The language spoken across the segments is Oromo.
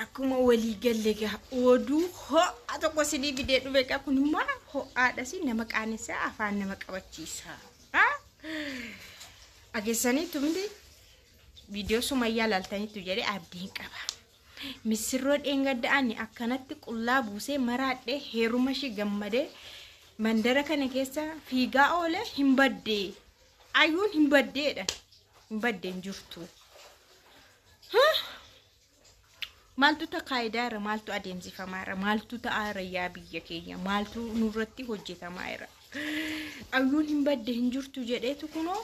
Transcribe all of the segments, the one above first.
Akkuma walii galle egaa oduu ho'a tokko isinii fidee dhufe egaa kun immoo ho'aadhas nama qaanessaa afaan nama qabachiisa. Ageessanii tumti viidiyoo sumayyaa laaltaniitu jedhee abdiin qaba. Missirroo dheengadda'anii akkanatti qullaa buusee maraadhee heeruma ishii gammadee mandara kana keessa fiigaa oolee hin baddee. Ayyuun hin baddeedha. Hin baddee hin jirtu. Maaltu takaayidaa irra maaltu adeemsifamaa irra maaltu ta'aa irra yaa biyya keenya maaltu nurratti hojjetamaa irra. Ayyuun hin badde hin jirtu jedheetu kunoo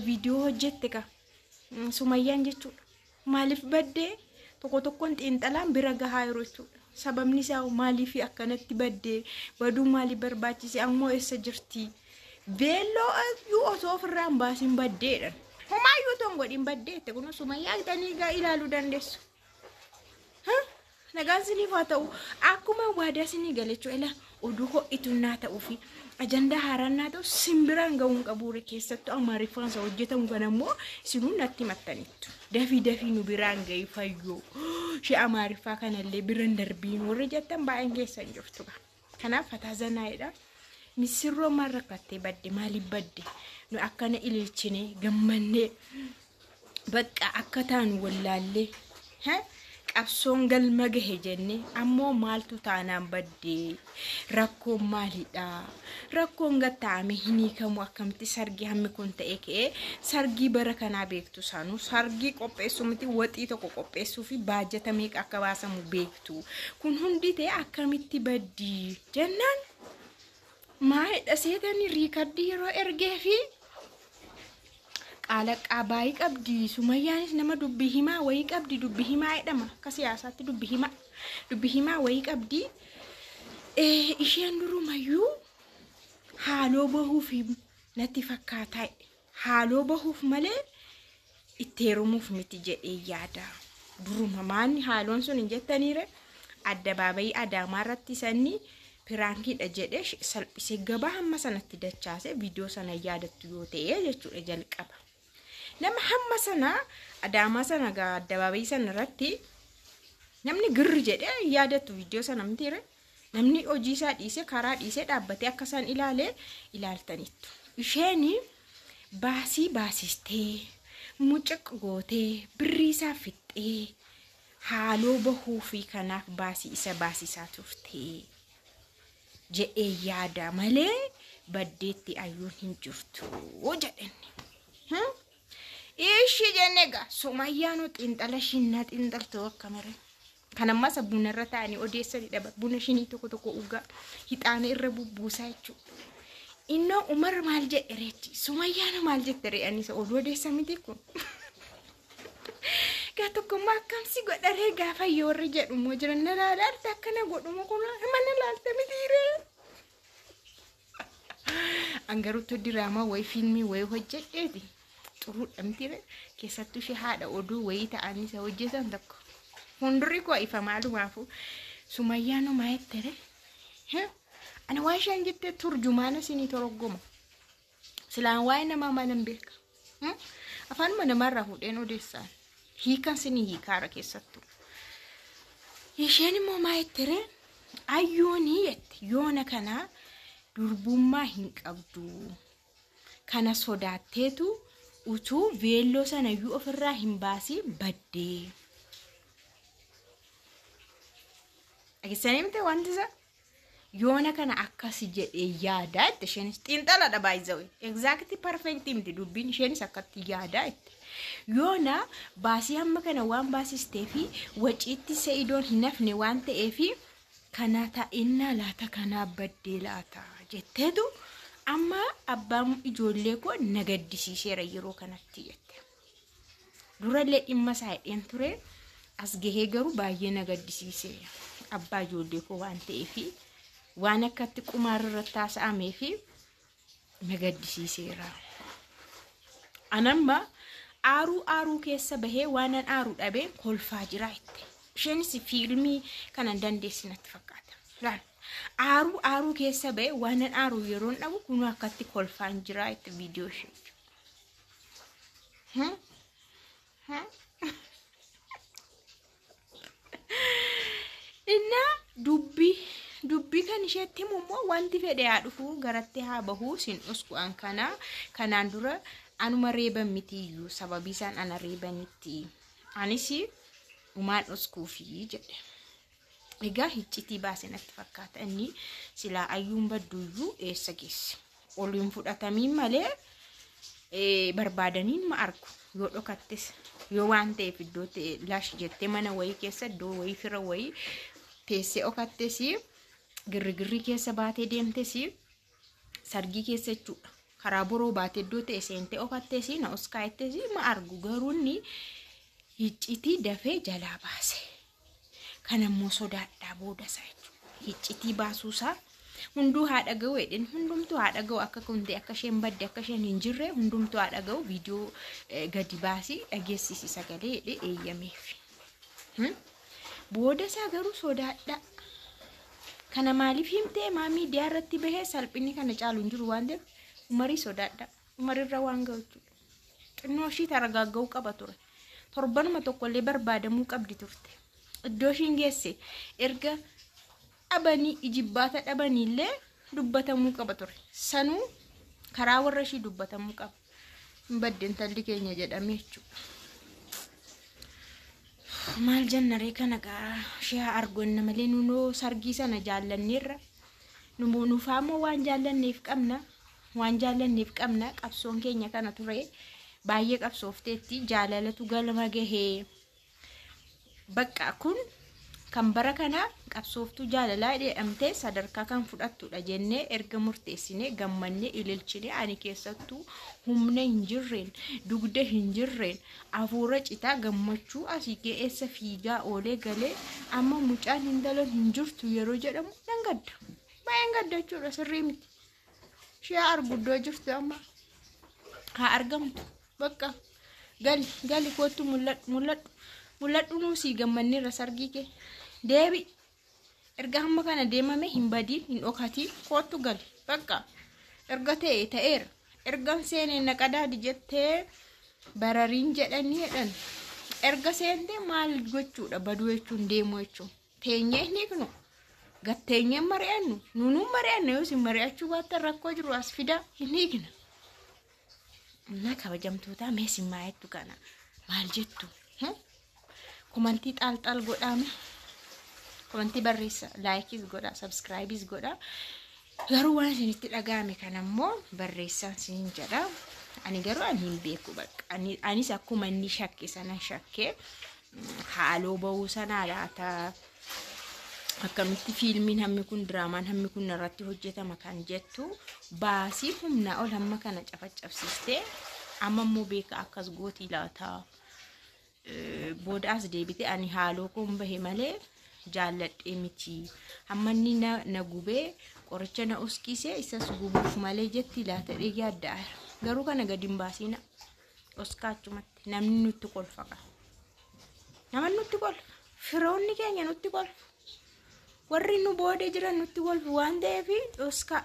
viidiyoo hojjette ka sumayyaan jechuudha. Maaliif badde tokko tokkoon xiinxalaan bira gahaa yeroo jechuudha. Sababni isaa maaliif akkanatti badde baduu maaliif barbaachise ammoo eessa jirti. Veelloo iyyuu osoo ofirraa hin baasin baddeedhan. Homaa iyyuu otoo hin godhin baddeette kun sumayyaa gidhanii egaa ilaaluu dandeessu. Ha? Nagaan isiniif haa ta'u. Akkuma waadaa isinii galechuu ela oduu ho'ituun naa ta'uu fi ajandaa haaraan naa ta'u simbiraan ga'uu hin qabuure keessattuu amaariffaan isa hojjetamu kana immoo isinuu natti himattaniittu. Dafii dafii nu biraan ga'ii fayyoo. Ishee amaariffaa kanallee biran darbiin warri jettan baay'een keessan jirtu. Kanaaf fataa zanaa'edha. Misirroo maal rakkattee badde maaliif badde nu akkana ililchine gammannee bakka akka taanu wallaallee ha? qabsoon galma gahe jenne ammoo maaltu taanaan badde rakkoon maalidha rakkoon gatta'ame hin hiikamu akkamitti sargii hammi kun ta'e ka'ee sargii bara kanaa beektu. tu saanu sargii qopheessuu miti waxii tokko qopheessuu fi baajata meeqa akka baasamu beektu kun hundi ta'e akkamitti baddii jennaan maayidha seetanii riikardii yeroo ergee fi qaalaqqaa baay'ee qabdi sumayyaanis nama dubbi himaa wayii qabdi dubbi himaa jedhama akka siyaasaatti dubbi himaa dubbi himaa wayii qabdi Eh, isheen durumayyuu haaloo bahuufi natti fakkaataa jedhe. haaloo bahuuf malee itti heerumuuf miti jedhee yaada. Duruma maanni haaloon sun hin jettaniire addabaabayii adaamaa irratti sanni piraankiidha jedhee sh- salphisee gabaa hamma sanatti dachaase viidiyoo sana yaadattu yoo ta'e jechuudha jalqaba. Nama hamma sana adaamaa sana gaa addabaabayii sana irratti namni girri jedhee yaadatu viidiyoo sana mitiire Namni hojii isaa dhiisee karaa dhiisee dhaabbatee akka isaan ilaale ilaaltaniittu. Isheen baasii baasistee mucuq gootee birrii isaa fixxee haaloo bahuu fi kanaaf baasii isa baasisaa turte jedhee yaada malee baddeetti ayyuun hin jirtu jedhenni. Hmm? Ishii jennee gaa sumayyaanuu xiinxala ishiin na xiinxaltu akka malee. Kan ammaa sa buna irra taa'anii odeessanidha bar. Buna shinii tokko tokko ugaa hixaana irra bubbuusaa jechuudha. Innoo Umar maal jedhe reetti? Sumayyaana maal jette ree? Ani isa oduu odeessa miti kun. Gaa tokkommaa akkamsi godha ree gaafa yoorri jedhu immoo jiran na laala arta akkana godhumu kun mana laalta miti ree. An garuu utuu diraamaa wayii fiilmii wayii hojjedheeti xuruudha miti ree keessattuu ishee haadha oduu wayii ta'anii isa hojjetan tokko hundurri koo ifa maalumaafuu sumayyaa numaa jettere ana waan isheen jette turjumaana isinii toroggoma Silaan waa'ee namaa maalan beeka? Hmm? Afaanuma namaarraa fuudheen odeessaan. Hiikan sinii hiikaara keessattuu. Isheen immoo maa jettere? Ayyoonii jette yoona kana durbummaa hin qabdu. Kana sodaatteetu utuu veelloo sanayyuu ofirraa hin baasiin baddee. Dhageessanii miti wanti isaa? yoona kana akkasi jedhee yaadaa itti isheenis xiinxaladha baay'isawee egzaakti parfeektii miti dubbiin isheenis akkatti yaadaa itti yoona baasii hamma kana waan baasistee fi waciitti se'idoon hin hafne waan ta'eef kanaa ta'innaa laata kanaa baddee laata jetteetu amma abbaan ijoollee koo na gaddisiiseera yeroo kanatti jette. Durallee dhimma isaa hidheen ture as gahee garuu baay'ee na gaddisiise abbaa ijoollee koo waan ta'eef waan akkatti qumaarra irratti haasa'amee fi na gaddisiiseera. Anamma aaruu aaruu keessa bahee waanan aaruu dhabee kolfaa jira itti. Isheenis fiilmii kanan dandeessi natti fakkaata. Laal aaruu aaruu keessa bahee waanan aaruu yeroon dhabu kunuu akkatti kolfaan jira itti viidiyoo ishee. Innaa dubbii dubbii kan isheetti himu immoo wanti fedhe haa dhufu garatti haa bahu sin dhusku an kana kanaan dura anuma reeban miti iyyuu sababii isaan ana reebanitti anis umaan dhuskuufi jedhe. Egaa hiccitii baase natti fakkaata inni silaa ayyuun badduuyyuu eessa geesse. Ol hin fudhatamiin malee eh, barbaadaniin ma argu yoo dhokattes yoo waan ta'eef iddoo ta'e laash jettee mana wayii keessa iddoo wayii fira wayii teessee okattes girrigirrii keessa baatee deemtes sargii keessa jechuudha. Karaa boroo baatee iddoo ta'e seentee okattes na oskaayettes ma argu garuu inni hiccitii dafee jalaa baase. kanammoo sodaadhaa booda isaa jechuudha. Hiccitii baasuu isaa hunduu haa dhaga'u jedhin hundumtuu haa dhaga'u akka kuntee akka isheen badde akka isheen hin jirre hundumtuu haa dhaga'u viidiyoo eh, gadi baasii dhageessisi sagalee jedhee eeyyameef. Hmm? Booda isaa garuu sodaadhaa. Kana maaliif himtee maa miidiyaa irratti bahee salphinni kana caalu hin jiru waan ta'eef umarii sodaadhaa. Umarirra waan ga'u jechuudha. xinnoo ishii taragaagga'uu qaba ture. Torbanuma tokkollee barbaadamuu qabdi turte. Iddoo ishiin geesse erga dhabanii ijibbaata dhabaniillee dubbatamuu qaba ture. Sanuu karaa warra ishii dubbatamuu qaba. Hin badde intalli keenya jedhamee jechuudha. Maal jennaree kana gaa ishee haa arganna malee nunoo sargii sana jaallanneerra. Numoo nuufaa immoo waan jaallanneef qabna. waan jaallanneef qabna qabsoon keenya kana ture baay'ee qabsoofteetti jaalalatu galma gahee bakka kun kan bara kana qabsooftuu jaalalaa jedhamtee sadarkaa kan fudhattudha jennee erga murteessine gammanne ililchine ani keessattuu humna hin jirreen dugda hin jirreen afuura citaa gammachuu asii ga'eessa fiigaa oolee galee amma mucaan hin dalan hin jirtu yeroo jedhamu nan gadda baay'een gadda jechuudha sirrii miti. Ishee arguddoo jirtu amma haa argamtu bakka gali gali koottu mul'adhu mul'adhu mul'adhu nuu sii gammanneerra sargii kee deebi erga hamma kana deemame hin badiin hin dhokatiin koottu gali bakka erga ta'e ta'eera ergan seenee naqadaadi jettee barariin jedhanii jedhan erga seentee maal gochuudha baduu jechuun deemuu jechuun. teenyee hin hiiknu gad teenyee hin mari'annu nuunuun mari'anna yoo isin mari'achuu baattan rakkoo jiru as fidaa hin hiikna na kabajamtootaa mee isin maa jettu kana maal jettu Hmm? komantii xaalxaal godhaame komantii barreessa laayikiis godhaa sabskraayibiis godhaa garuu waan isinitti dhaga'ame kana immoo barreessaan isiniin jedha ani garuu ani hin beeku bakka Ani- anis akkuma inni shakke sanan shakke haaloo ba'uu sanaa laata akkamitti fiilmiin hammi kun diraamaan hammi kun irratti hojjetama kan jettu baasii humnaa ol hamma kana cafaccabsiistee amma immoo beeka akkas gootii laata Eh, booda as deebite ani haaloo koon bahe malee jaalladhee miti hamma inni na, na gubee qoricha na uskise isas gubuuf malee jetti laata dhee yaadda garuu kana gadi hin baasiina Oskaa achumatti namni nutti kolfa qaba. Namni nutti kolfa. Firoonni keenya nutti kolfa. Warri nu booda jiran nutti kolfu waan ta'eef oskaa.